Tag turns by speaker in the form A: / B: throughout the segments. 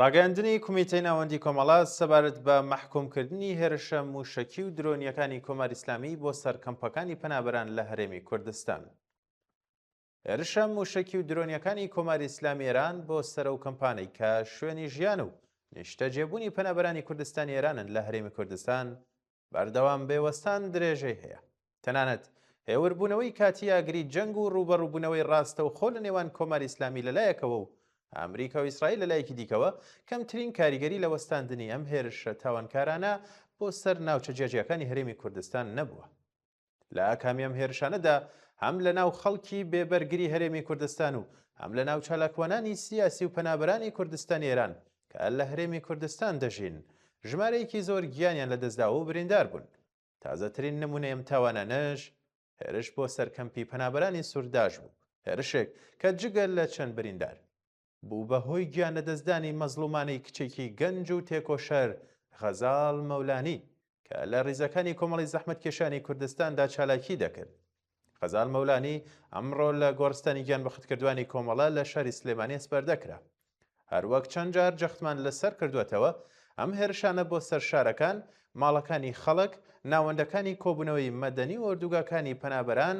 A: ڕاگەیاندنی کومیتەی ناوەندی کۆمەڵە سەبارەت بە مەحکومکردنی هێرشە موشەکی و درۆنیەکانی کۆماری ئیسلامی بۆ سەر کەمپەکانی پەنابەران لە هەرێمی کوردستان. هێرشە مووشەکی و درۆنیەکانی کۆماری ئیسلامی ئێران بۆ سەرە و کەمپانەی کە شوێنی ژیان و نیشتەجێبوونی پەنابەرانی کوردستانی ئێرانن لە هەرێمی کوردستان بەردەوام بێ وەستان درێژەی هەیە تەنانەت هێوربوونەوەی کاتی ئاگری جەنگ و ڕوبەڕووبوونەوەی ڕاستە و خۆ لە نێوان کۆماری ئیسلامی لەلایەکەوە و ئەمریکا و ئیسرائیل لە لایەکی دیکەوە کەمترین کاریگەری لە وەستاندنی ئەم هێرشە تاوانکارانە بۆ سەر ناوچە جیاجیاکانی هەرێمی کوردستان نەبووە لە ئاکامی ئەم هێرشانەدا هەم لە ناو خەڵکی بێبەرگری هەرێمی کوردستان و هەم لە ناو چالاکوانانی سیاسی و پەنابرانی کوردستانی ئێران کە لە هەرێمی کوردستان دەژین ژمارەیەکی زۆر گیانیان لە دەستداوە و بریندار بوون تازەترین نمونەی ئەم تاوانانەش هێرش بۆ سەرکەمپی پەنابرانی سوورداش بوو هێرشێک کە جگە لە چەند بریندار بوو بە هۆی گیان لەدەستدانی مەزڵومانەی کچێکی گەنج و تێکۆشەر غەزاڵ مەولانی کە لە ڕیزەکانی کۆمەڵی زەحمەتکێشانی کوردستاندا چالاکی دەکرد. غەزال مەولانی ئەمڕۆ لە گۆڕستانی گیانبەختکردوانی کۆمەڵە لە شاری سلێمانی ئەسپەردەکرا. هەروەک چەند جار جەختمان لەسەر کردوەتەوە، ئەم هێرشانە بۆ سەر شارەکان، ماڵەکانی خەڵک، ناوەندەکانی کۆبوونەوەی مەدەنی و ئۆردوگاکانی پەنابەران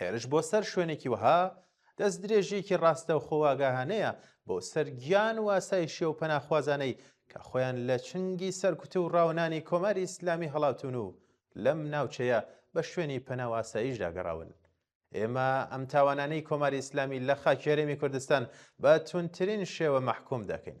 A: هێرش بۆ سەر شوێنێکی وەها دەست درێژیەکی ڕاستە و خۆواگاهانەیە بۆ سەرگیان واسای شێ و پەناخوازانەی کە خۆیان لە چنگی سەرکوت و ڕاونانی کۆماری ئیسلامی هەڵاتون و لەم ناوچەیە بە شوێنی پەناواساییش داگەڕاون. ئێمە ئەم تاوانانەی کۆماری ئیسلامی لە خاکێرێمی کوردستان بە تونترین شێوە مەحکوم دەکەین.